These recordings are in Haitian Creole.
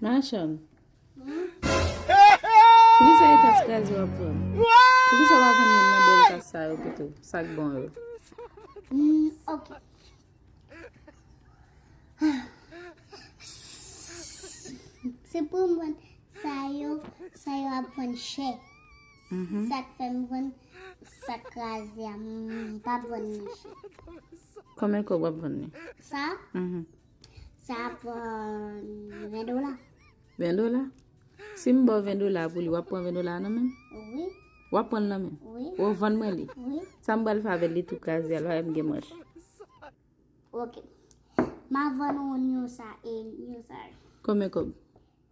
Machann. Poukisa e tas kraze w ap vann? Poukisa w pa vann youn nan bèl tas sa yo pito? Sa k bon yo? Ok. Se pou m vann sa yo, sa yo ap vann chè. Mm-hmm. Sa k fè m vann sa k kraze a, m pa vann ni chè. Konbyen kòb w ap vann li? Sa? Mm-hmm. Sa ap pran 20 dola. 20 dola? Si m baw 20 dola pou li, wap pran 20 dola nan menm? Wi. Wap pran nan menm? Wi. Ou vann mwen li? Wi. Sa m bal fè avèl li tou kaze al, wè m gen manch. Ok. Ma vann ou nyon sa e nyon sa. Konbyen kob?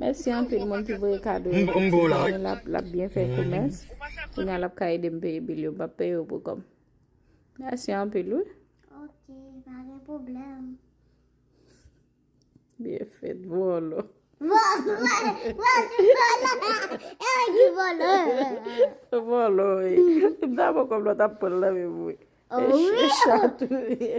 Mèsi anpil moun ki voye kado yo pou ti zanmi m l ap byen fè komès Kounye a l ap ka ede m peye bil yo M pa p peye yo pou kò m Mèsi anpil wi Ok pa gen pwoblèm Byen fèt, vòlò. Vòlò, vòlò. Mta bon kòm lòt ap pranl nan menm mwen. Eche chat ou ye.